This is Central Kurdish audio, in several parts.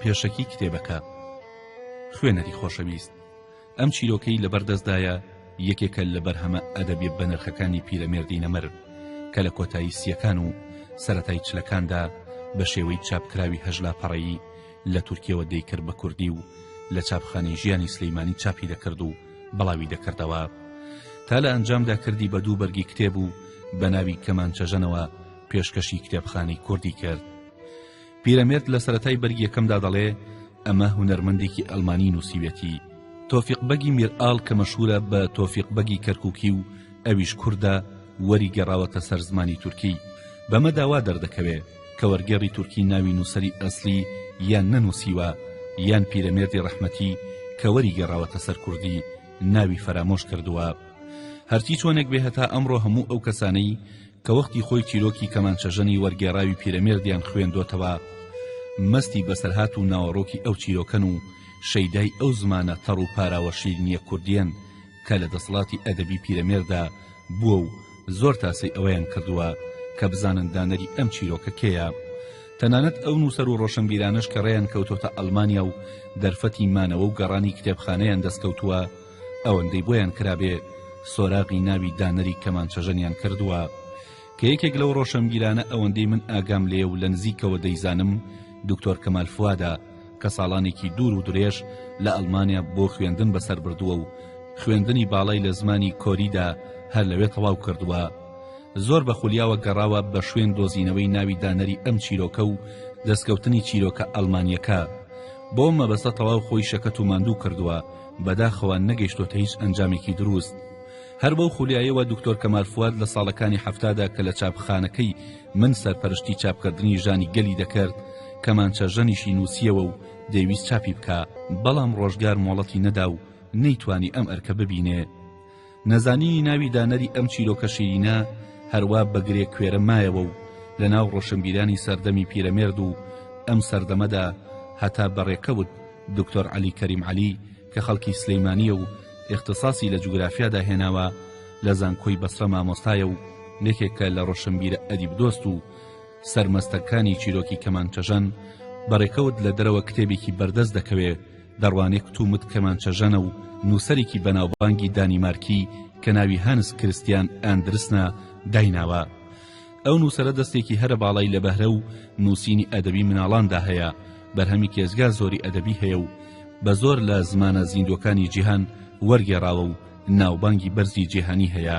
پێشەکی کتێبەکە خوێنەری خۆشەویست ئەم چیرۆکەی لەبەردەستدایە یەکێکە لە بەرهەمە ئەدەبی بەنرخەکانی پیرەمێردی نەمر کە لە کۆتایی سیەکان و سەتای چلەکاندا بە شێوەی چاپکراوی هەژلا پەڕەیی لە تورکیەوە دەیکرد بە کوردی و لە چاپخانەی ژیانی سلیمانی چاپی دەکرد و بڵاوی دەکردەوە تا لە ئەنجامدا کردی بە دوو بەرگی کتێب و بە ناوی کەمانچەژەنەوە پێشکەشی کتێبخانەی کوردی کرد پیرەمێرد لە سەتای بەرگیەکەمدا دەڵێ ئەمە هونەرمەندێکی ئەلمانی نووسیوێتی تۆفیق بەگی میرئاڵ کە مەشهورە بە تۆفیق بەگی کەرککی و ئەویش کووردە وەری گەڕاوەتە سەر زمانی تورکی بەمە داوا دەردەکەوێ کە وەرگێڕی تورکی ناوی نووسەری ئەسلی یان نەنووسیوە یان پیرەمێردی ڕەحمەتی کە وەری گەڕاوەتە سەر کوردی ناوی فەرامۆش کردووە هەرچی چۆنێک بێ هەتا ئەمڕۆ هەموو ئەو کەسانەی کە وەختی خۆی چیرۆکی کەمانچەژەنی وەرگێڕاوی پیرەمێردیان خوێندۆتەوە مەستی بەسەرهات و ناوەڕۆکی ئەو چیرۆکەن و شەیدای ئەو زمانە تەڕ و پاراوە شیرینیە کوردیەن کە لە دەسەڵاتی ئەدەبی پیرەمێردا بووە و زۆر تاسەی ئەوەیان کردووە کە بزانن دانەری ئەم چیرۆکە کێیە تەنانەت ئەو نووسەر و ڕۆشنبیرانەش کە ڕێیان کەوتۆتە ئەڵمانیا و دەرفەتی مانەوە و گەڕانی کتێبخانەیان دەستکەوتووە ئەوەندەی بۆیان کرابێ سۆراغی ناوی دانەری کەمانچەژەنیان کردووە کە یەکێک لەو ڕۆشنبیرانە ئەوەندەی من ئاگام لێ و لە نزیکەوە دەیزانم دکتۆر کەمال فوادە کە ساڵانێکی دوور و درێژ لە ئەڵمانیا بۆ خوێندن بەسەر بردووە و خوێندنی باڵای لە زمانی کۆریدا هەر لەوێ تەواو کردووە زۆر بە خولیاوە گەڕاوە بە شوێن دۆزینەوەی ناوی دانەری ئەم چیرۆکە و دەستکەوتنی چیرۆکە ئەڵمانیەکە بۆ مەبەستە تەواو خۆی شەکەت و ماندوو کردووە بەداخەوە نەگەیشتۆتە هیچ ئەنجامێکی دروست هەر بەو خولیایەوە دکتۆر کەمال فواد لە ساڵەکانی حەفتادا کە لە چاپخانەکەی من سەرپەرشتی چاپکردنی ژانی گەلی دەکرد کەمانچە ژەنیشی نووسیەوە و دەیویست چاپی بکا بەڵام ڕۆژگار مۆڵەتی نەدا و نەیتوانی ئەم ئەرکە ببینێ نەزانینی ناوی دانەری ئەم چیرۆکە شیرینە هەروا بەگرێ کوێرە مایەوە و لە ناو ڕۆشنبیرانی سەردەمی پیرەمێرد و ئەم سەردەمەدا هەتا بەڕێکەوت دکتۆر عەلی کەریم عەلی کە خەڵکی سلیمانیە و ئیختساسی لە جوگرافیادا هێناوە لە زانکۆی بەسرە مامۆستایە و یەکێکە لە ڕۆشنبیرە ئەدیب دۆست و سەرمەستەکانی چیرۆکی کەمانچەژەن بە ڕێکەوت لە دەرەوە کتێبێکی بەردەست دەکەوێ دەڕوانێ کوتومت کەمانچەژەنە و نووسەرێکی بەناوبانگی دانیمارکی کە ناوی هانس کرستیان ئاندرسنە دایناوە ئەو نووسەرە دەستێکی هەرە باڵای لە بەهرە و نووسینی ئەدەبی مناڵاندا هەیە، بەرهەمی کێجگا زۆری ئەدەبی هەیە و بە زۆر لە زمانە زیندووەکانی جیهان وەرگێڕاوە و ناوبانگی بەرزی جیهانی هەیە.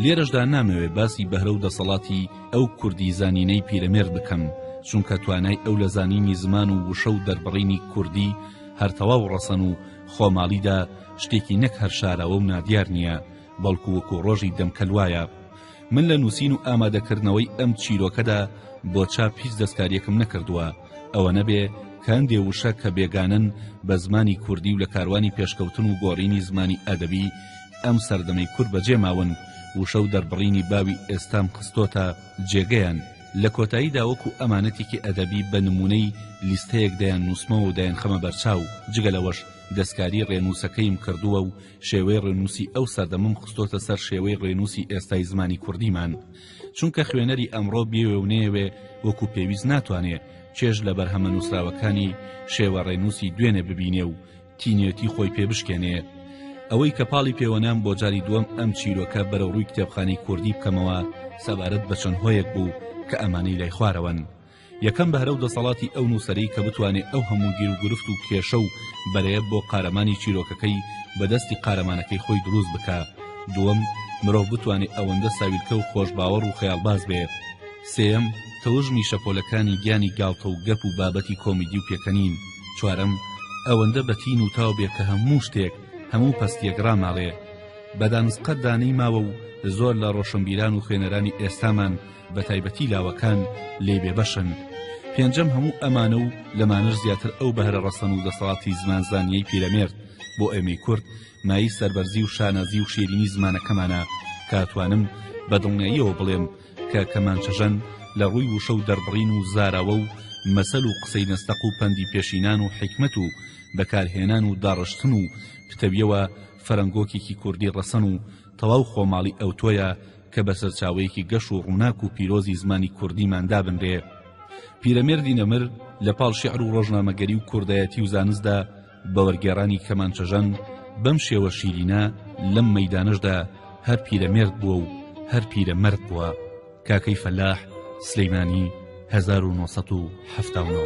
لێرەشدا نامەوێ باسی بەهرە و دەسەڵاتی ئەو کوردی زانینەی پیرەمێرد بکەم، چونکە توانای ئەو لە زانینی زمان و وشە و دەربڕینی کوردی هەر تەواو ڕەسەن و خۆماڵیدا شتێکی نەک هەر شاراوە و نادیار نییە، بەڵکو وەکو ڕۆژی دەمکەل وایە من لە نووسین و ئامادەکردنەوەی ئەم چیرۆکەدا بۆ چاپ هیچ دەستکاریەکم نەکردووە ئەوە نەبێ کاندێ وشە کە بێگانەن بە زمانی کوردی و لە کاروانی پێشکەوتن و گۆڕینی زمانی ئەدەبی ئەم سەردەمەی کورد بەجێ ماون وشە و دەربڕینی باوی ئێستام خستۆتە جێگەیان لە کۆتایی داوەکو ئەمانەتێکی ئەدەبی بە نمونەی لیستەیەک دەیان نووسمەوە و دەیان خەمە بەرچاو جگە لەوەش دەستکاری ڕێنووسەکەیم کردووە و شێوەی ڕێنووسی ئەو سەردەمم خستۆتە سەر شێوەی ڕێنووسی ئێستای زمانی کوردیمان چونکە خوێنەری ئەمڕۆ بێوێ و نەیەوێ وەکو پێویست ناتوانێ چێژ لە بەرهەمە نووسراوەکانی شێوە ڕێنووسی دوێنێ ببینێ و تینوێتی خۆی پێ بشکێنێ ئەوەی کە پاڵی پێوەنام بۆ جاری دووەم ئەم چیرۆکە بەرەو ڕووی کتێبخانەی کوردی بکەمەوە سەبارەت بە چەند هۆیەک بوو کە ئەمانەی لای خوارەوەن یەکەم بەهرە و دەسەڵاتی ئەو نووسەرەی کە بتوانێ ئەو هەموو گیروگرفت و کێشە و بەرەیە بۆ قارەمانی چیرۆکەکەی بە دەستی قارەمانەکەی خۆی دروست بکا دووەم مرۆڤ بتوانێ ئەوەندە ساویلکە و خۆشباوەڕ و خەیاڵباز بێ سێیەم تەوژمی شەپۆلەکانی گیانی گاڵتە و گەپ و بابەتی کۆمیدی و پێکەنین چوارەم ئەوەندە بە تین و تاو بێ کە هەموو شتێک هەموو پەستیەک ڕاماڵێ بە دانسقەتدا نەیماوە و زۆر لە ڕۆشنبیران و خوێنەرانی ئێستامان بە تایبەتی لاوەکان لێ بێبەشن پێنجەم هەموو ئەمانە و لەمانەش زیاتر ئەو بەهرە ڕەسەن و دەسەڵاتی زمانزانیەی پیرەمێرد بۆ ئێمەی کورد مایی سەربەرزی و شانازی و شیرینی زمانەکەمانە کاتوانم بە دڵنیاییەوە بڵێم کە کەمانچەژەن لە ڕووی وشە و دەربڕین و زاراوە و مەسەل و قسەی نەستەق و پەندی پێشینان و حیکمەت و بەکارهێنان و داڕشتن و پتەویەوە فەرەنگۆکێکی کوردی ڕەسەن و تەواو خۆماڵی ئەوتۆیە کە بە سەرچاوەیەکی گەش و ڕووناک و پیرۆزی زمانی کوردیمان دابنرێ. پیرەمێردی نەمر لە پاڵ شیعر و ڕۆژنامەگەری و کوردایەتی و زانستدا بە وەرگێڕانی کەمانچەژەن بەم شێوە شیرینە لەم مەیدانەشدا هەر پیرەمێرد بووە و هەر پیرە مەرد بووە. کاکەی فەلاح، سلێمانی، هەزار و نۆ سەد و حەفتا و نۆ.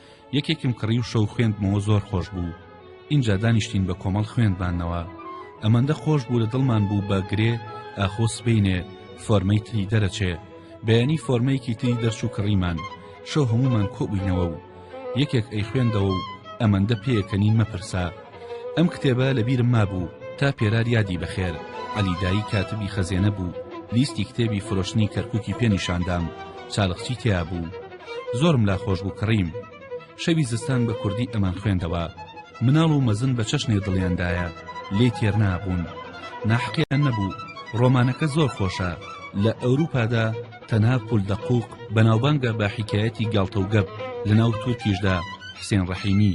یەکێکم کڕی و شەو خوێندمەوە زۆر خۆش بوو ئینجا دانیشتین بە کۆمەڵ خوێندمانەوە ئەمەندە خۆش بوو لە دڵمان بوو بە گرێ ئاخۆ سبینێ فۆرمەی تری دەرەچێ بەیانی فۆرمەیەکی تری دەرچوو کڕیمان شەو هەمومان کۆبووینەوە و یەکێک ئەی خوێندەوە و ئەمەندە پێکەنین مەپرسە ئەم کتێبە لە بیرم مابوو تا پێرار یادی بەخێر عەلی دایی کاتبی خەزێنە بوو لیستی کتێبی فرۆشتنی کەرکوکی پێ نیشاندام چالقچی تێا بوو زۆرم لا خۆش بوو کڕیم شەوی زستان بە کوردی ئەمان خوێندەوە مناڵ و مەزن بە چەشنێ دڵیاندایە لێ تێرنابوون ناحقیان نەبوو ڕۆمانەکە زۆر خۆشە لە ئەوروپادا تەنها پول دەقوق بەناوبانگە بە حکایەتی گاڵتە و گەپ لە ناو تورکیشدا حسێن ڕەحیمی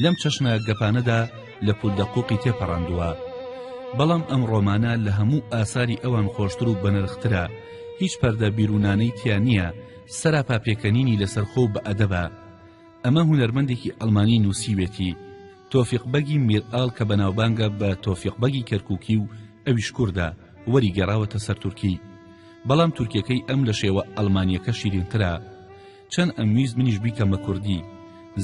لەم چەشنە گەپانەدا لە پول دەقوقی تێپەڕاندووە بەڵام ئەم ڕۆمانە لە هەموو ئاساری ئەوان خۆشتر و بەنرخترە هیچ پەردە بیرونانەی تیا نییە سەراپا پێکەنینی لەسەر خۆ بە ئەدەبە ئەمە هونەرمەندێکی ئەلمانی نووسیوێتی تۆفیق بەگی میرئاڵ کە بەناوبانگە بە تۆفیق بەگی کەرککی و ئەویش کووردە وەری گەڕاوەتە سەر تورکی بەڵام تورکەکەی ئەم لە شێوە ئەلمانیەکە شیرینترە چەن ئەمویست منیش بیکەم بە کوردی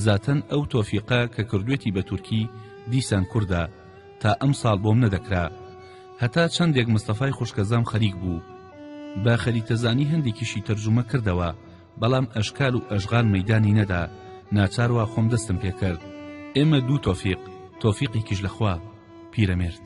زاتەن ئەو تۆفیقە کە کردوێتی بە تورکی دیسان کوردە تا ئەم ساڵ بۆم نەدەکرا هەتا چەندێک مستەفای خوشکەزام خەریک بوو بە خەریتەزانی هەندێکیشی تەرجومە کردەوە بەڵام ئەشکال و ئەشغال مەدانی نەدا ناچاروا خۆم دەستم پێکرد ئێمە دوو تۆفیق تۆفیقێکیش لەخوا پیرەمێرد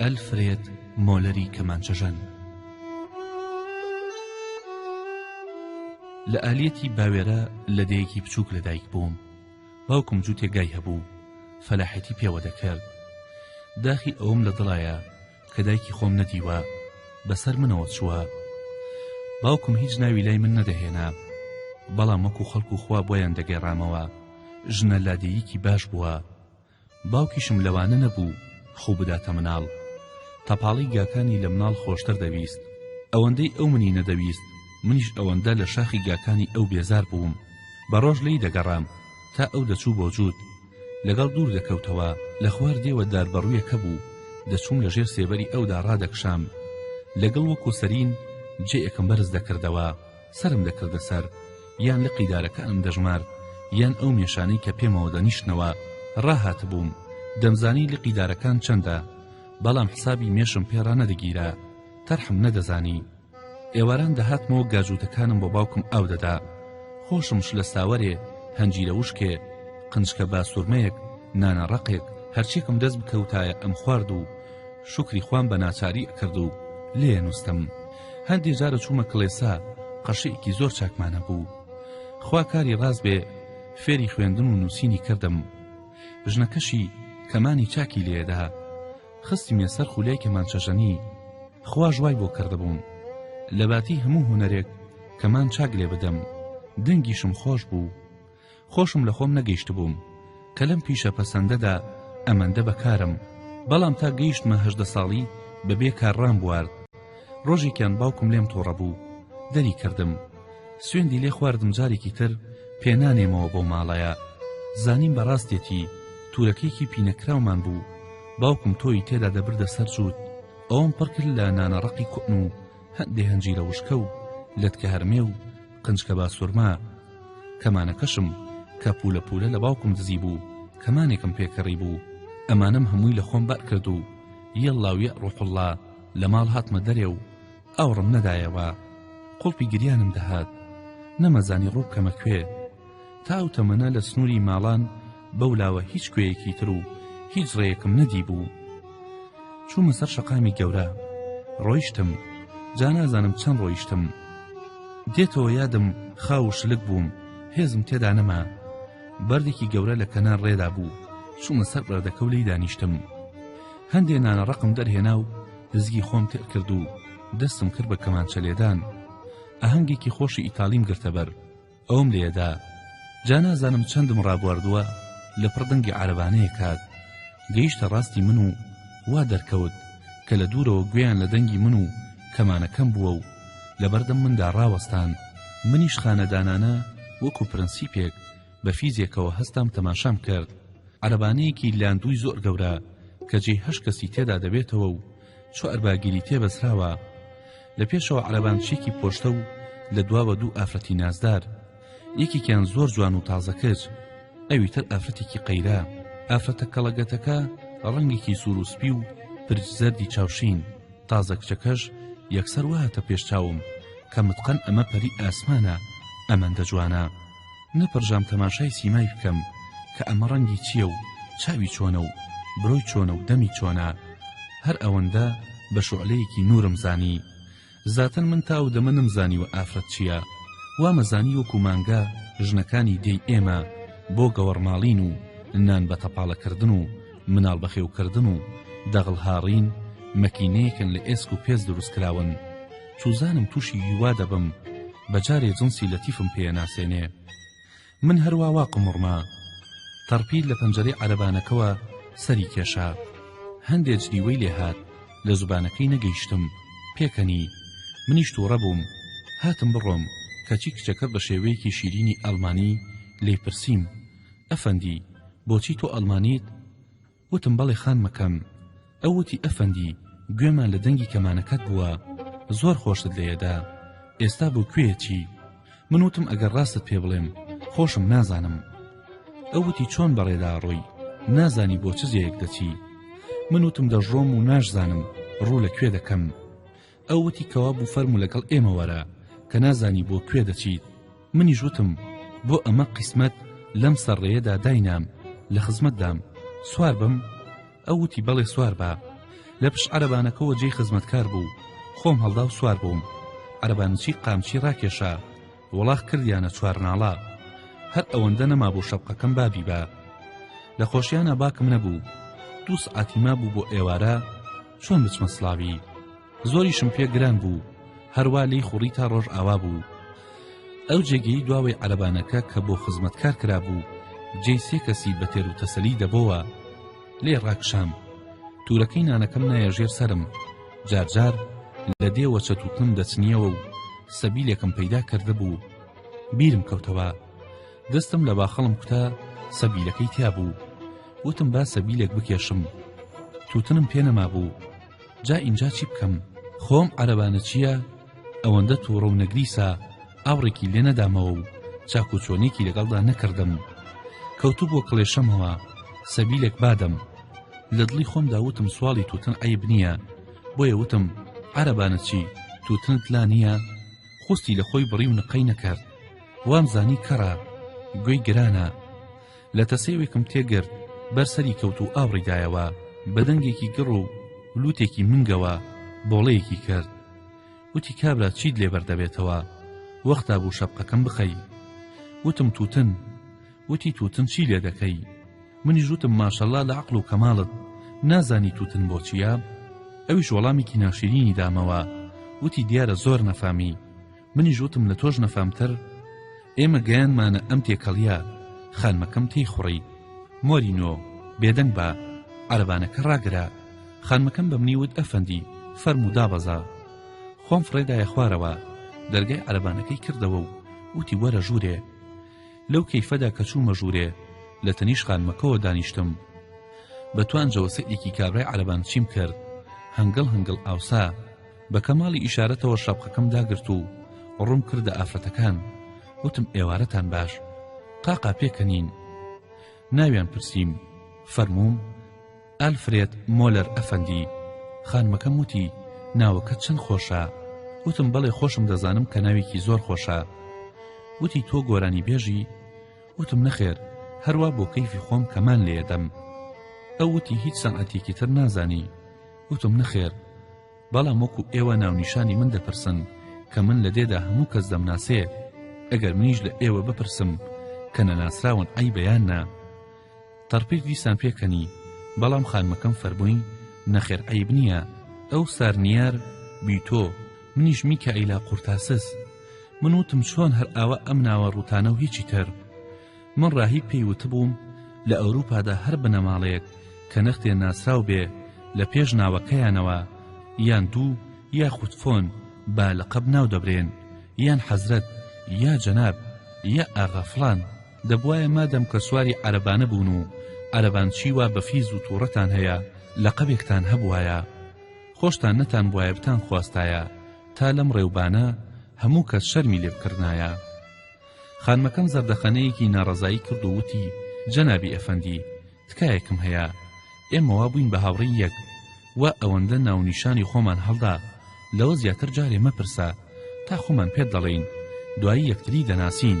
ئەلفرێد مۆلەری کەمانچەژەن لە ئالیەتی باوێرە لە دەیەکی بچووک لەدایک بووم باوکم جووتێگای هەبوو فەلاحەتی پێوە دەکرد داخی ئەوم لە دڵایە کە دایکی خۆم نەدیوە بەسەر منەوە چووە باوکم هیچ ناوی لای من نەدەهێنا بەڵام وەکو خەڵکو خوا بۆیان دەگەێڕامەوە ژنە لادێیکی باش بووە باوکیشم لەوانە نەبوو خو بداتە مناڵ تەپاڵی گاکانی لە مناڵ خۆشتر دەویست ئەوەندەی ئەو منی نەدەویست منیش ئەوەندە لە شاخی گاکانی ئەو بێزار بووم بە ڕۆژ لی دەگەڕام تا ئەو دەچوو بۆ جووت لەگەڵ دوور دەکەوتەوە لە خوار دێوە دار بەڕویەکە بوو دەچووم لە ژێر سێبەری ئەودا ڕادەکشام لە گڵ وەکو سەرین جێیەکم بەرز دەکردەوە سەرم دەکردە سەر یان لقی دارەکە ئەم دەژمارد یان ئەو مێشانەی کە پێمەوە دەنیشتنەوە ڕاهاتبووم دەمزانی لقی دارەکان چەندە بەڵام حسابی مێشم پێ ڕانەدەگیرا تەرحم نەدەزانی ئێواران دەهاتمەوە گاجووتەکانم بۆ باوکم ئاو دەدا خۆشم شلە ساوەرێ هەنجیرە وشکێ قنجکە باسوورمەیەک نانە ڕەقێک هەرچێکم دەست بکەوتایە ئەم خوارد و شکری خوام بە ناچاری ئەکرد و لێ نووستم هەندێ جارە چوومە کڵێسا قەشێکی زۆر چاکمانە بوو خوا کاری ڕاست بێ فێری خوێندن و نووسینی کردم ژنەکەشی کەمانی چاکی لێدا خستمیە سەر خولەی کەمانچەژەنی خواش وای بۆ کردبووم لەباتی هەموو هونەرێک کەمان چاک لێ بدەم دەنگیشم خۆش بوو خۆشم لە خۆم نەگەیشت بووم کە لەم پیشە پەسەندەدا ئەمەندە بەکارم بەڵام تا گەیشتمە هەژدە ساڵی بەبێ کارڕام بوارد ڕۆژێکیان باوکم لێم تۆڕە بوو دەری کردم سوێندی لێ خواردم جارێکی تر پێ نانێمەوە بەو ماڵەیە زانیم بەڕاستێتی تورەکەیەکی پینەکراومان بوو باوکم تۆی تێدا دەبردە سەر جووت ئەوم پڕکرد لە نانەڕقی کوتن و هەندێ هەنجی لە وشکە و لەتکە هەرمێ و قنجکە باسوورما کەمانەکەشم کە پولە پولە لە باوکم دزی بوو کەمانێکم پێکەڕی بوو ئەمانم هەمووی لە خۆم بەر کرد و یەڵاویە ڕوحڵا لە ماڵ هاتمە دەرێ و ئاوڕم نەدایەوە قوڵپی گریانم دەهات نەمەزانی ڕوو بکەمە کوێ تا ئەو تەمەنە لە سنووری ماڵان بەو لاوە هیچ کوێیەکی تر و هیچ ڕێیەکم نەدی بوو چوومە سەر شەقامی گەورە ڕۆیشتم جا نازانم چەند ڕۆیشتم دێتەوە یادم خاو و شلک بووم هێزم تێدا نەما بەردێکی گەورە لە کەنار ڕێدا بوو چوومە سەر بەردەکە و لی دانیشتم هەندێ نانە ڕەقم دەرهێنا و لزگی خۆم تێر کرد و دەستم کرد بە کەمانچە لێدان ئاهەنگێکی خۆشی ئیتاڵیم گرتە بەر ئەوم لێدا جا نازانم چەندم ڕابواردووە لە پڕ دەنگی عربانەیە کات گەیشتە ڕاستی من و وا دەرکەوت کە لە دوورەوە گوێیان لە دەنگی من و کەمانەکەم بووە و لەبەردەم مندا ڕاوەستان منیش خانەدانانە وەکو پرەنسیپێک بە فیزێکەوە هەستام تەماشام کرد عەرەبانەیەکی لاندووی زۆر گەورە کە جێی هەشت کەسی تێدا دەبێتەوە و چوار باگیری تێ بەزراوە لە پێشەوە عەرەبانچێکی پۆشتە و لە دواوە دوو ئافرەتی نازدار یەکێکیان زۆر جوان و تازە کرد ئەوی تر ئافرەتێکی قەیرە ئافرەتە کەڵەگەتەکە ڕەنگێکی سوور و سپی و پرچ زەردی چاوشین تازە کچەکەش یەکسەر وهاتە پێش چاوم کە متقەن ئەمە پەری ئاسمانە ئەمەندە جوانە نەپڕژام تەماشای سیمای بکەم کە ئەمە ڕەنگی چییە و چاوی چۆنە و برۆی چۆنە و دەمی چۆنە هەر ئەوەندە بە شۆعلەیەکی نوورم زانی زاتەن من تا ئەو دەمە نەمزانیوە ئافرەت چییە وامەزانی وەکو مانگا ژنەکانی دێی ئێمە بۆ گەوەڕماڵین و نان بە تەپاڵەکردن و مناڵ بەخێوکردن و دەغڵ هاڕین مەکینەیەکن لە ئێسک و پێست دروستکراون سوزانم توشی هیوا دەبم بەجارێ جنسی لەتیفم پێ ناسێنێ من هەروا وا قمڕمە تەڕپیل لە پەنجەرەی عەرەبانەکەوە سەری کێشا هەندێ جلیوەی لێهات لە زوبانەکەی نەگەیشتم پێکەنی منیش توڕە بووم هاتم بڕۆم کەچی کچەکە بە شێوەیەکی شیرینی ئەڵمانی لێی پرسیم ئەفەندی بۆچی تۆ ئەڵمانیت وتم بەڵێ خانمەکەم. ئەو وتی ئەفەندی گوێمان لە دەنگی کەمانەکەت بووە، زۆر خۆشت لێیەدا، ئێستا بۆ کوێ ئەچی؟ من وتم ئەگەر ڕاستت پێ بڵێم خۆشم نازانم. ئەو وتی چۆن بەڕێدا ئەڕۆی، نازانی بۆ چ جێیەک دەچی؟ من وتم دەشڕۆم و ناشزانم ڕوو لە کوێ دەکەم. ئەو وتی کەوابوو فەرموو لەگەڵ ئێمە وەرە کە نازانی بۆ کوێ دەچیت منیش وتم بۆ ئەمە قیسمەت لەم سەر ڕێیەدا داینام لە خزمەتدام سوار بم ئەو وتی بەڵێ سوار بە لە پشت عەرەبانەکەەوە جێی خزمەتکار بوو خۆم هەڵدا و سوار بووم عەرەبانچی قامچی ڕاکێشا وڵاخ کردیانە چوار ناڵە هەر ئەوەندە نەما بۆ شەپقەکەم بابی بە لە خۆشیانە باکم نەبوو دوو سعاتیما بوو بۆ ئێوارە چۆن بچمە سڵاوی زۆریشم پێ گران بوو هەروا لی خوڕی تا ڕۆژ ئاوا بوو ئەو جێگەی دواوەی عەربانەکە کە بۆ خزمەت کار کرابوو جێ سێ کەسی بە تێر و تەسەلی دەبەوە لێ ڕاکشام تورەکەی نانەکەم نایە ژێر سرم جارجار لە دێوە چەتوتنم دەچنیەوە و سەبیلێکم پەیدا کردبوو بیرم کەوتەوە دەستم لە باخەڵم کوتا سەبیلەکەی تیا بوو وتم با سەبیلێک بکێشم توتنم پێ نەما بوو جا ئینجا چی بکەم خۆم عەرەبانە چییە ئەوەندە تووڕە و نەگریسە ئاوڕێکی لێ نەدامەوە و چاکوچۆنێکی لەگەڵدا نەکردم کەوتو بۆ کڵێشەمەوە سەبیلێک بادەم لە دڵی خۆمدا وتم سواڵی توتن عیب نییە بۆیە وتم عەرەبانە چی توتنت لا نییە خوستی لە خۆی بڕی و نقەی نەکرد وامزانی کەڕە گوێی گرانە لە تەسەیوێکم تێگرت بەر سەری کەوت و ئاوڕی دایەوە بە دەنگێکی گڕ و لوتێکی منگەوە بۆڵەیەکی کرد وتی کابرا چیت لێبەر دەبێتەوە وەختا بوو شەپقەکەم بخەی وتم توتن وتی توتن چی لێ دەکەی منی ژوتم ماشەڵا لە عقل و کەماڵت نازانی توتن بۆچیە ئەویش وەڵامێکی ناشرینی دامەوە وتی دیارە زۆر نەفامی منیش وتم لە تۆش نەفامتر ئێمە گەیانمانە ئەم تێکەڵیە خانمەکەم تێی خوڕی مۆرینۆ بێدەنگ بە عربانەکە ڕاگرە خانمەکەم بە منی وت ئەفەندی فەرمو دابەزە خۆم فڕێدایە خوارەوە دەرگای عربانەکەی کردەوە و وتی وەرە ژوورێ لەو کەیفەدا کە چوومە ژوورێ لە تەنیش خانمەکەەوە دانیشتم بە توانجەوە سەیرێکی کابرای عربان چیم کرد هەنگڵ هەنگڵ ئاوسا بە کەماڵی ئیشارەتەوە شەپقەکەم داگرت و ڕووم کردە ئافرەتەکان وتم ئێوارەتان باش قاقا پێکەنین ناویان پرسیم فەرمووم ئالفرێت مۆلەر ئەفەندی خانمەکەم وتی ناوەکە چەند خۆشە وتم بەڵێ خۆشم دەزانم کە ناوێکی زۆر خۆشە وتی تۆ گۆرانی بێژی وتم نەخێر هەروە بۆ کەیفی خۆم کەمان لێدەم ئەو وتی هیچ سەعاتێکی تر نازانی وتم نەخێر بەڵام وەکو ئێوە ناونیشانی من دەپرسن کە من لە دێدا هەموو کەس دەمناسێ ئەگەر منیش لە ئێوە بپرسم کە نەناسراون عەیبە یان نا تەڕپیر دیسان پێکەنی بەڵام خانمەکەم فەرمووی نەخێر عەیب نییە ئەو سارنیار بیتۆ منیش میکائیلا قورتاسس من وتم چۆن هەر ئاوا ئەم ناوە ڕووتانە و هیچی تر من ڕاهیب پێی وتبووم لە ئەوروپادا هەر بنەماڵەیەک کە نەختێ ناسراو بێ لە پێش ناوەکەیانەوە یان دوو یاخود فۆن با لەقەب ناو دەبرێن یان حەزرەت یا جەناب یا ئاغا فڵان دەبوایە مادەم کە سواری عەرەبانە بوون و عەرەبانچی وا بە فیز و تووڕەتان هەیە لەقەبێکتان هەبوایە خۆشتان نەتان بوایە بتان خواستایە تا لەم ڕێوبانە هەموو کەس شەرمی لێ بکردایە خانمەکەم زەردەخەنەیەکی ناڕەزایی کرد و وتی جەنابی ئەفەندی تکایەکم هەیە ئێمە وا بووین بە هاوڕێی یەک و ئەوەندە ناونیشانی خۆمان هەڵدا لەوە زیاتر جارێ مەپرسە تا خۆمان پێت دەڵێین دوایی یەکتری دەناسین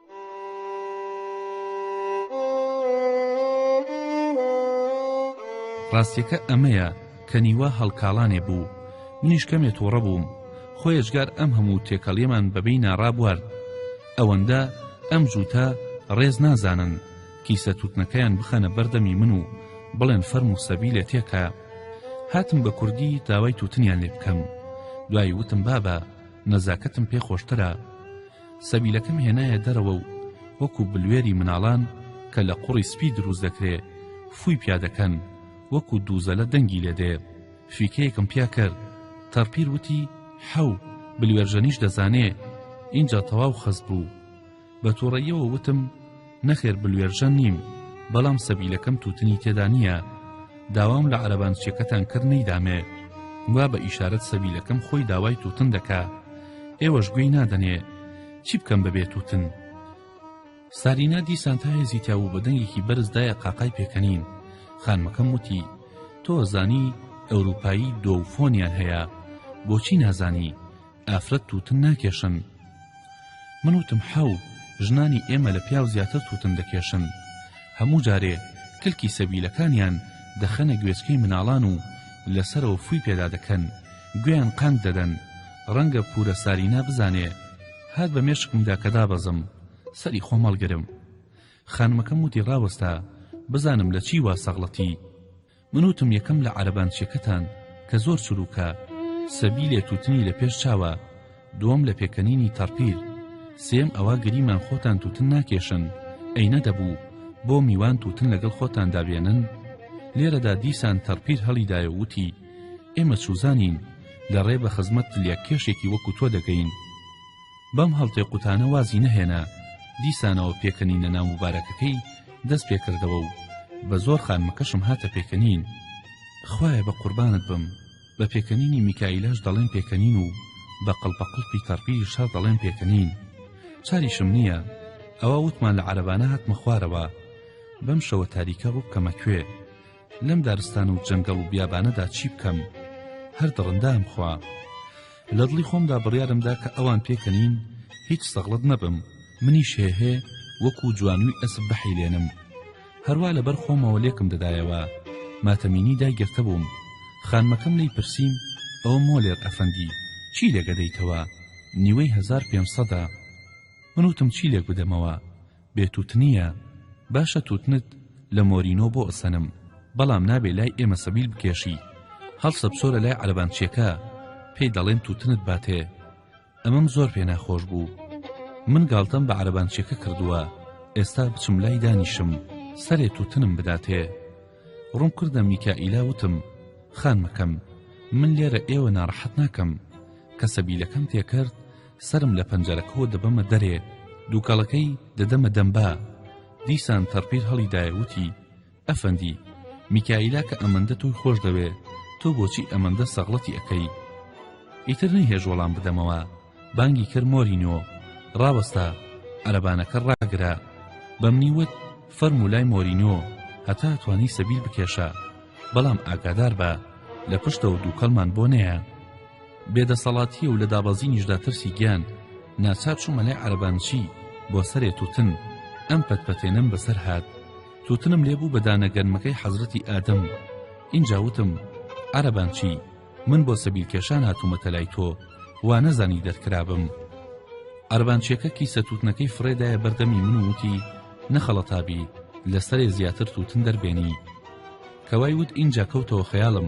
ڕاستیەکە ئەمەیە کە نیوە هەڵکاڵانێ بوو منیش کەمێ توڕە بووم خۆ یەجگار ئەم هەموو تێکەڵیەمان بەبێی ناڕابوارد ئەوەندە ئەم جووتە ڕێز نازانن کیسە توتنەکەیان بخەنە بەردەمی من و بڵێن فەرم و سەبی لێ تێکە هاتم بە کوردی داوای توتنیان لێ بکەم دوای وتم بابە نەزاکەتم پێ خۆشترە سەبیلەکەم هێنایە دەرەوە و وەکو بلوێری مناڵان کە لە قوڕی سپی دروست دەکرێ فووی پیا دەکەن وەکو دووزەلە دەنگی لێ دێ فیکەیەکم پیا کرد تەڕپیر وتی حەو بلوێرژەنیش دەزانێ ئینجا تەواو خەست بوو بە تووڕەییەوە وتم نەخێر بلوێرژەن نیم بەڵام سەبیلەکەم توتنی تێدا نییە داوام لە عەرەبانچیەکەتان کرد نەیدامێ وا بە ئیشارەت سەبیلەکەم خۆی داوای توتن دەکا ئێوەش گوێی نادەنێ چی بکەم بەبێ توتن سارینا دیسان تا هێزی تیاو بە دەنگێکی بەرزدایە قاقای پێکەنین خانمەکەم وتی تۆ زانی ئەوروپایی دۆ فۆنیان هەیە بۆچی نازانی ئافرەت تووتن ناکێشن من وتم حەو ژنانی ئێمە لە پیاو زیاتر تووتن دەکێشن هەموو جارێ کلکی سەبیلەکانیان دەخەنە گوێچکەی مناڵان و لەسەرەوە فوی پێدا دەکەن گوێیان قانگ دەدەن ڕەنگە پورە سارینا بزانێ هات بە مێشکمدا کە دابەزم سەری خۆم هەڵگرم خانمەکەم وتی ڕاوەستە بزانم لە چی وا سەغڵەتی من وتم یەکەم لە عەرەبانچیەکەتان کە زۆر چروکە سەبی لێ توتنی لە پێش چاوە دووەم لە پێکەنینی تەڕپیر سێم ئەوە گریمان خۆتان توتن ناکێشن ئەی نەدەبوو بۆ میوان توتن لەگەڵ خۆتاندا بێنن لێرەدا دیسان تەڕپیر هەڵیدایە وتی ئێمە چوزانین لە ڕێ بە خزمەت تلیاک کێشێکی وەکو تۆ دەگەین بەم هەڵتێقوتانە وازی نەهێنا دیسانەوە پێکەنینە ناو موبارەکەکەی دەست پێکردەوە و بە زۆر خانمەکەشم هاتە پێکەنین خوایە بە قوربانت بم بە پێکەنینی میکائیلاش دەڵێن پێکەنین و بە قڵپەقڵپی تەڕپیری شەڕ دەڵێن پێکەنین چاریشم نییە ئەوە وتمان لە عەرەبانە هاتمە خوارەوە بەم شەوە تاریکە ڕووبکەمە کوێ لەم دارستان و جەنگەڵ و بیابانەدا چی بکەم هەر دڕندام خوا لە دڵی خۆمدا بڕیارمدا کە ئەوان پێکەنین هیچ سەغڵت نەبم منی شێهێ وەکو جوانوی ئەسب بەحیلێنم هەروە لەبەر خۆمەوە لێکم دەدایەوە ماتەمینی دایگرتە بووم خانمەکەم لی پرسییم ئەو مۆلێر ئەفەندی چی لێگەدەیتەوە نیوەی هزار پێنج سەدە من وتم چی لێک بدەمەوە بێ توتنیە باشە توتنت لە مۆرینۆ بۆ ئەسەنم بەڵام نابێ لای ئێمە سەبیل بکێشی هەڵسە بچۆرە لای عەرەبانچیەکە پێی دەڵێن توتنت باتێ ئەمەم زۆر پێ ناخۆش بوو من گاڵتەم بە عەرەبانچیەکە کردووە ئێستا بچم لای دانیشم سەرێ توتنم بداتێ ڕوم کردە میکائیلا وتم خانمەکەم من لێرە ئێوە ناڕەحەت ناکەم کە سەبیلەکەم تێکرد سەرم لە پەنجەرەکەوە دەبەمە دەرێ دووکەڵەکەی دەدەمە دەم با دیسان تەڕپیر هەڵیدایە وتی ئەفەندی میکائیلا کە ئەمەندە تۆی خۆش دەوێ تۆ بۆچی ئەمەندە سەغڵەتی ئەکەی ئیتر نەیهێژ وەڵام بدەمەوە بانگی کرد مۆرینۆ ڕاوەستا عەرەبانەکە ڕاگرە بەمنی وت فەرموولای مۆرینۆ هەتا توانی سەبیل بکێشە بەڵام ئاگادار بە لە پشتەوە دووکەڵمان بۆ نەیە بێ دەسەڵاتیە و لە دابەزینیشدا ترسی گیان ناچار چوومە لای عەرەبانچی بۆ سەرێ توتن ئەم پەت پەتێنەم بەسەر هات توتنم لێ بوو بە دانە گەنمەکەی حەزرەتی ئادەم ئینجا وتم عەرەبانچی من بۆ سەبیل کێشان هاتوومەتە لای تۆ وا نەزانی دەرکرابم عەربانچیەکە کیسە توتنەکەی فڕێدایە بەردەمی من وتی نەخەڵەتابی لەسەرێ زیاتر توتن دەربێنی کەوای وت ئینجا کەوتەوە خەیاڵم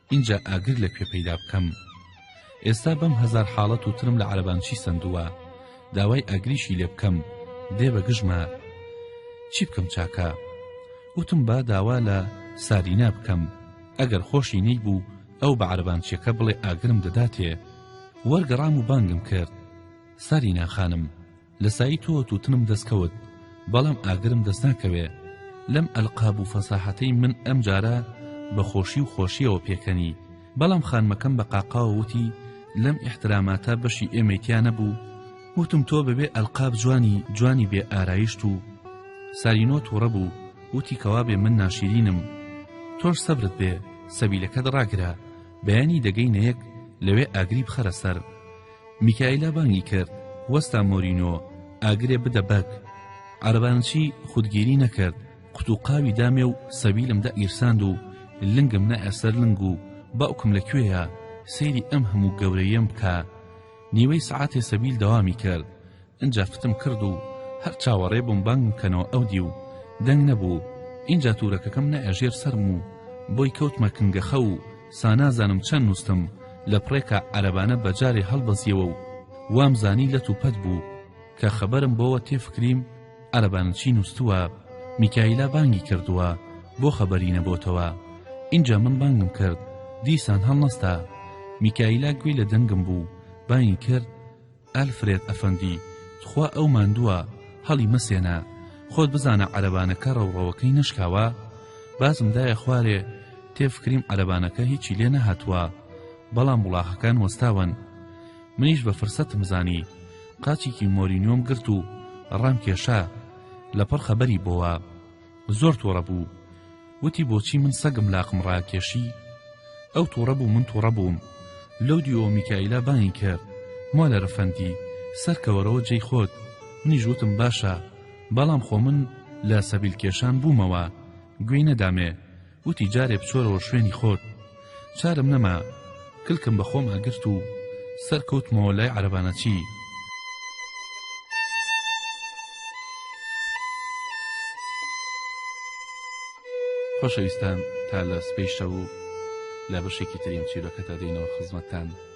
ئینجا ئاگر لە کوێ پەیدا بکەم ئێستا بەم هەزار حاڵەت و ترم لە عەرەبان چی سەندووە داوای ئاگریشی لێ بکەم دێ بە گژمە چی بکەم چاکە وتم با داوا لە سارینا بکەم ئەگەر خۆشی نەی بوو ئەو بە عەرەبانچیەکە بڵێ ئاگرم دەداتێ وەرگەڕام و بانگم کرد سارینا خانم لە سایی تۆ توتنم دەست کەوت بەڵام ئاگرم دەست ناکەوێ لەم ئەلقاب و فەساحەتەی من ئەم جارە بە خۆشی و خۆشیەوە پێکەنی بەڵام خانمەکەم بە قاقاوە وتی لەم ئیحتراماتە بەشی ئێمەی تیا نەبوو وتم تۆ بەبێ ئەلقاب جوانی جوانی بێ ئارایشت و سارینۆ تووڕە بوو وتی کەوا بێ من ناشیرینم تۆش سەبرت بێ سەبیلەکەت ڕاگرە بەیانی دەگەی نەیەک لەوێ ئاگری بخەرە سەر میکایلا بانگی کرد، وەستا مۆرینۆ، ئاگرێ بدە بەگ. عەرەبانچی خودگیری نەکرد، قوتووقاوی دامێ و سەبیلم دەئیرساند و لنگم نایە سەر لنگ و باوکم لە کوێیە، سەیری ئەم هەموو گەورەییەم بکە. نیوەی سەعاتێ سەبیل دەوامی کرد. ئینجا فتم کرد و هەر چاوەڕێ بووم بانگم کەنەوە ئەو دیو دەنگ نەبوو ئینجا تورەکەکەم نایە ژێر سەرم و بۆی کەوتمە کنگەخە و سانازانم چەند نووستم لە پڕێکا عەرەبانە بەجارێ هەڵبەزیەوە و وام زانی لەت و پەت بوو کە خەبەرم بۆوە تێفکریم عەرەبانە چی نووستووە میکایلا بانگی کردووە بۆ خەبەری نەبۆتەوە ئینجا من بانگم کرد دیسان هەڵنەستا میکایلا گوێی لە دەنگم بوو بانگی کرد ئەلفرێد ئەفەندی تخوا ئەو ماندووە هەڵی مەسێنە خۆت بزانە عەرەبانەکە ڕەوڕەوەکەی نەشکاوە باسم دایە خوارێ تێفکریم عەرەبانەکە هیچی لێ نەهاتووە بەڵام وڵاخەکان وەستاون منیش بە فرسەتم زانی قاچێکی مۆرینیۆم گرت و ڕام کێشا لەپڕ خەبەری بۆوە زۆر توڕە بوو وتی بۆچی من سەگم لاقم ڕاکێشی ئەو توڕە بوو من توڕە بووم لەو دیوەوە میکائیلا بانگی کرد مۆلەر ئەفەندی سەرکەوەرەوە جێی خۆت منیش وتم باشە بەڵام خۆ من لە سەبیل کێشان بوومەوە گوێی نەدامێ وتی جارێ بچۆرەوە شوێنی خۆت چارم نەما کلکم بە خۆما گرت و سەر کەوتمەوە لای عەرەبانەچی خۆشەویستان تا لە سبەی شەو و لە بەشێکی ترین چیرۆکەتا دێینەوە خزمەتتان.